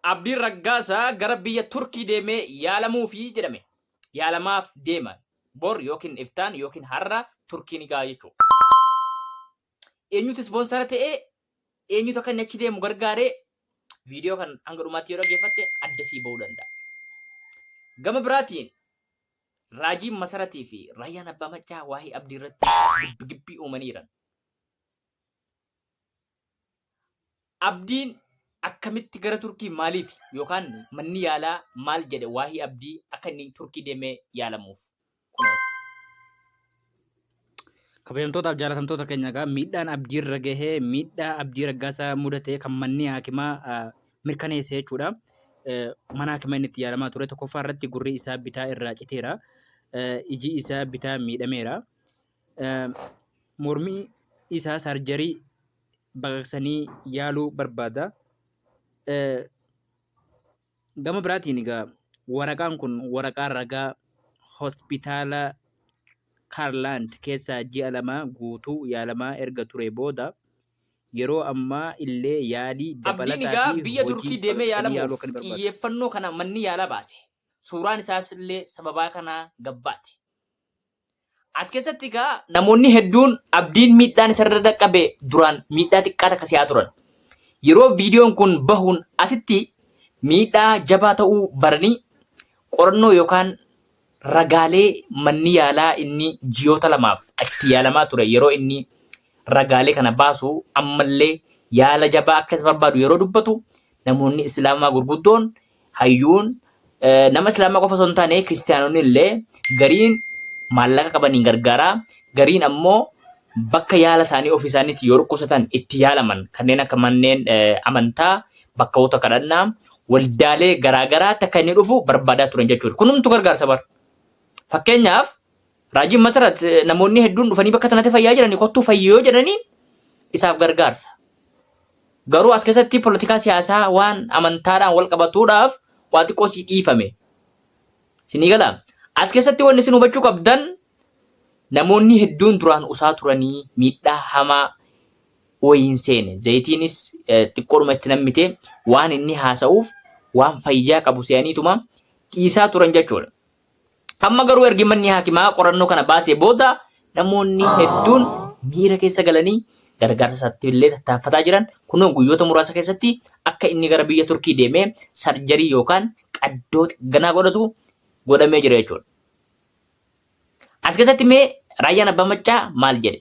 Abdiin Raggaasaa gara biyya Turkii deemee yaalamuufi jedhame. Yaalamaaf deema. Bor yookiin iftaan yookiin har'a Turkii ni ga'a jechuudha. Eenyutu ispoonsara ta'e? Eenyutu akka inni achi deemu gargaare? Viidiyoo kan hanga dhumaatti yoo dhaggeeffatte adda sii ba'uu danda'a. Gama biraatiin raajiin Masaratii fi Raayyaan Abbaa Maccaa waa'ee Abdii irratti gibbi gibbii uumanii jiran. Abdiin akkamitti gara Turkii maaliif yookaan manni yaalaa maal jedhe waa'ee Abdii akka inni Turkii deemee yaalamuuf? Kabajamtootaaf jaalatamtoota keenya egaa miidhaan abdii irra gahee miidhaa abdii raggaasaa mudatee kan manni haakimaa mirkaneesse jechuudha. Mana haakimaa inni itti yaalamaa ture tokkoffaa irratti gurri isaa bitaa irraa citeera. Iji isaa bitaa miidhameera. mormii isaa saarjarii baqaqsanii yaaluu barbaada. Gama biraatiin egaa waraqaan kun waraqaa ragaa hospitaala Kaarlaand keessaa ji'a lamaa guutuu yaalamaa erga ture booda yeroo ammaa illee yaalii Abdiin dabalataa egaa fi biyya hojii Turkii deemee baqaqsanii yaaluu akka yaalamuuf barbaadu. xiyyeeffannoo kana manni yaalaa baase. Suuraan isaas illee sababaa kanaa gabbaate. As keessatti egaa namoonni hedduun abdiin miidhaan isarra dhaqqabe duraan miidhaa xiqqaa takka si'aa turan. Yeroo viidiyoon kun bahuun asitti miidhaa jabaa ta'uu baranii qorannoo yookaan ragaalee manni yaalaa inni ji'oota lamaaf itti yaalamaa ture yeroo inni ragaalee kana baasu ammallee yaala jabaa akka isa barbaadu yeroo dubbatu namoonni islaamaa gurguddoon hayyuun nama islaamaa qofa osoo hin taane kiristaanonni illee gariin maallaqa qabaniin gargaaraa gariin ammoo bakka yaala isaanii ofii isaaniitti yoo dhukkubsatan itti yaalaman kanneen akka manneen amantaa bakkawoota kadhannaa waldaalee garaagaraatti akka inni dhufu barbaadaa turan jechuudha. Kun hundumtu gargaarsa bara. Fakkeenyaaf Raajiin Masarat namoonni hedduun dhufanii bakka sanatti fayyaa jiranii kottuu fayyi yoo jedhanii isaaf gargaarsa. Garuu as keessatti politikaa siyaasaa waan amantaadhaan wal qabatuudhaaf waa xiqqoo sii dhiifame. Sinii gala. As keessatti wanni isin hubachuu qabdan namoonni hedduun duraan usaa turanii miidhaa hamaa wayiin seene. Zayitiinis eh, xiqqoodhuma itti nammite waan inni haasa'uuf waan fayyaa qabu se'aniituma dhiisaa turan jechuudha. Amma garuu ergi manni haakimaa qorannoo kana baasee booda namoonni hedduun miira keessa galanii gargaarsa isaatti illee tattaaffataa jiran kunoo guyyoota muraasa keessatti akka inni gara biyya Turkii deemee sarjarii yookaan qaddoo ganaa godhatu godhamee jira jechuudha. As keessatti mee raayyaan abbaa maccaa maal jedhe?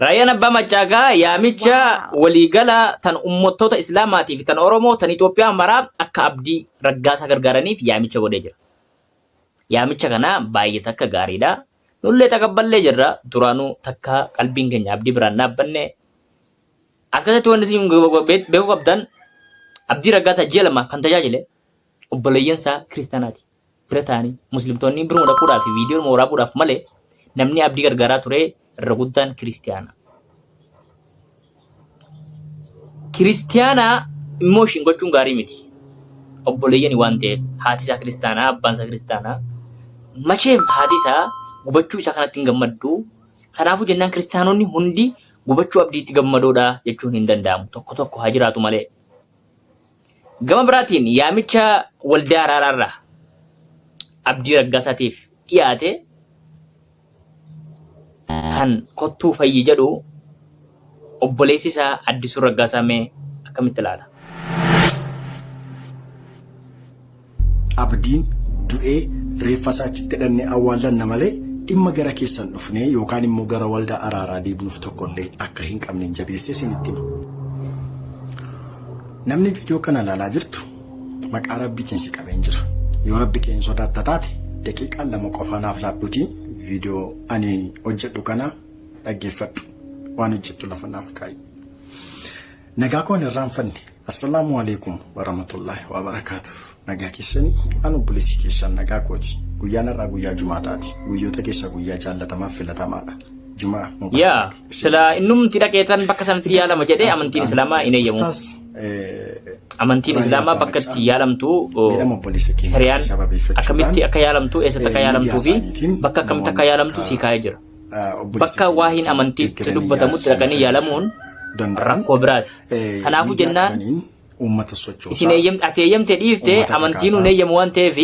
Raayyaan Abbaa Maccaagaa yaamicha waliigalaa tan uummattoota Islaamaatii fi tan Oromoo tan Itoophiyaa maraa akka abdii raggaasaa gargaaraniif yaamicha godhee jira. Yaamicha kana baay'ee takka gaariidha. Nullee taqabballee jirra. Duraanuu takka qalbiin keenya abdii biraan dhaabbanne As keessatti wanti isin beekuu qabdan Abdii Raggaasaa ji'a lamaaf kan tajaajile obboleeyyan isaa kiristaanaati. Bira ta'anii muslimtoonni biruma dhaquudhaaf fi viidiyoo dhuma waraabuudhaaf malee namni abdii gargaaraa ture irra guddaan kiristaana. Kiristaana immoo ishiin gochuun gaarii miti. Obboleeyyani waan ta'eef haati isaa kiristaanaa abbaan isaa kiristaanaa macheef haati isaa gubachuu isaa kanatti hin gammaddu. Kanaafuu jennaan kiristaanonni hundi Gubachuu Abdiitti gammadoodha jechuun hin danda'amu. Tokko tokko haa jiraatu malee. Gama biraatiin yaamicha waldaa araaraarraa Abdii Raggaasaatiif dhiyaate kan kottuu fayyi jedhu obboleessi isaa Addisuu Raggaasaa mee akkamitti ilaala? Abdiin du'ee reeffasaa achitti dhannee awwaallanna malee dhimma gara keessan dhufnee yookaan immoo gara waldaa araaraa deebnuuf tokkollee akka hin qabnen jabeessee isinitti hima. Namni viidiyoo kana ilaalaa jirtu maqaa rabbiitiin si qabeen jira. Yoo rabbi kee hin sodaatta taate daqiiqaa lama qofaa naaf laadhuutii viidiyoo ani hojjedhu kana dhaggeeffadhu. Waan hojjettu lafa naaf kaa'i. Nagaa koo hin irraanfanne. Assalaamu Aleeykum Waramatullaah Waabarakaatuh Nagaa keessanii an obboleessi keessan nagaa kooti guyyaan har'aa guyyaa jumaataati guyyoota keessaa guyyaa jaallatamaaf filatamaadha jumaa yaa mubaarak isin sila haa ta'u. innumti dhaqeetan bakka sanatti Itti yaalama jedhee amantiin aansuudhaan, islaamaa hin eeyyamu ustaaz, eh, amantiin Ibrahim islaamaa Abbaa bakka Naqaa. itti yaalamtu oo, Miidhama obboleessa keenya shari'aan sababeeffachuudhaan, akkamitti akka yaalamtu eessatti akka eh, yaalamtuu fi miidiyaa isaaniitiin bakka akkamitti akka namoonni yaalamtu akka- sii kaa'ee jira bakka waahiin amantii itti dubbatamutti dhaqanii yaalamuun rakkoo biraati. Kanaafuu jennaan uummata sochoosaa. Isin eeyyamte ati eeyyamte dhiifte amantiin hin eeyyamu waan ta'eef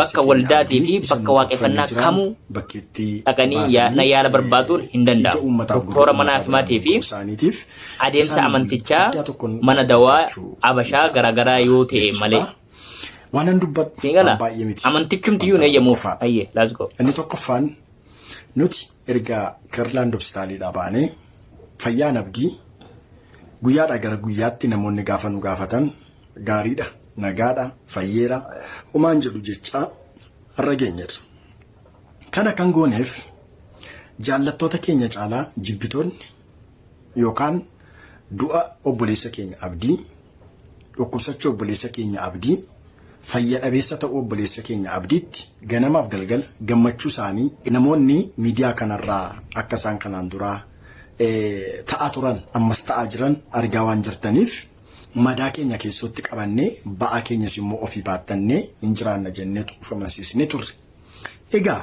bakka waldaatii fi bakka waaqeffannaa kamuu dhaqanii na yaala barbaaduun hin danda'amu. Doktora mana hakimaatii fi adeemsa amantichaa mana dawaa abashaa garaagaraa yoo ta'e malee. Waanan dubbadhu baay'ee miti. Amantichumti iyyuu hin eeyyamuuf. Ayyee, laas go. Inni tokkoffaan Nuti erga Kirlaand Hopsitaaliidhaa baanee fayyaan abdii guyyaadhaa gara guyyaatti namoonni gaafa nu gaafatan gaariidha, nagaadha, fayyeera, homaan jedhu jechaa har'a geenyerra. Kana kan gooneef jaallattoota keenya caalaa jibbitoonni yookaan du'a obboleessa keenya abdii, dhukkubsachuu obboleessa keenya abdii, fayya dhabeessa ta'uu obboleessa keenya abdiitti ganamaaf galgala gammachuu isaanii namoonni miidiyaa kanarraa akka isaan kanaan duraa ta'aa turan ammas ta'aa jiran argaa waan jirtaniif madaa keenya keessootti qabannee ba'aa keenyas immoo ofii baattannee hin jiraanna jenneetu of amansiisnee turre. Egaa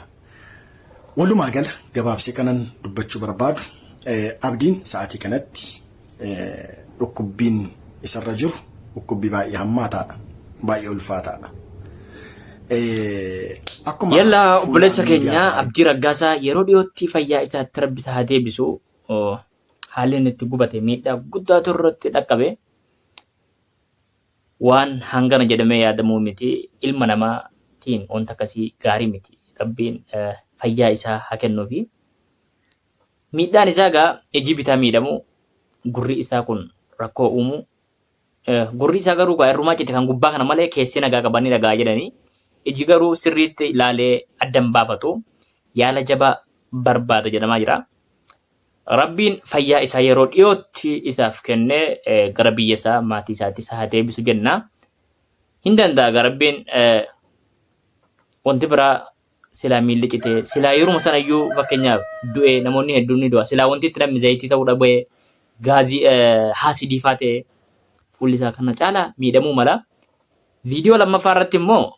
Walumaa gala gabaabsee kanan dubbachuu barbaadu Abdiin sa'aatii kanatti dhukkubbiin isarra jiru dhukkubbii baay'ee hammaataadha. Baay'ee ulfaataadha. Akkuma Yalla fuula obboleessa keenya miidiyaarraa Abdii Raggaasaa yeroo dhiyootti fayyaa isaatti rabbi isaa haa deebisu. Oo, Haalli inni itti gubate miidhaa guddaatu irratti dhaqqabe. Waan hangana jedhamee yaadamuu miti. Ilma namaa tiin wanta akkasii gaarii miti. Rabbiin fayyaa isaa haa kennuufi. Miidhaan isaa gaa ijii bitaa miidhamu gurri isaa kun rakkoo uumu. Gurri isaa garuu gaa irrumaa cite kan gubbaa kana malee keessi nagaa qaba ni dhaga'a jedhani. Iji garuu sirriitti laalee addan baafatu yaala jabaa barbaada jedhamaa jira. Rabbiin fayyaa isaa yeroo dhiyootti isaaf kennee gara biyya isaa maatii isaatti isa haa deebisu jenna. Hin danda'a egaa Rabbiin wanti biraa silaa miilli citee silaa yeruma sana iyyuu fakkeenyaaf du'ee namoonni hedduun ni du'a silaa wanti itti namni zayitii ta'uu dhabee gaazii haasidii faa ta'e fuulli isaa kana caalaa miidhamuu mala. Viidiyoo lammaffaa irratti immoo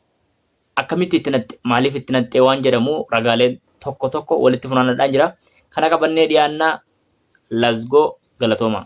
Akkamitti itti naqxe, maaliif itti naqxe waan jedhamu ragaaleen tokko tokko walitti funaannadhaan jira. Kana qabannee dhiyaanna lasgoo galatoomaa.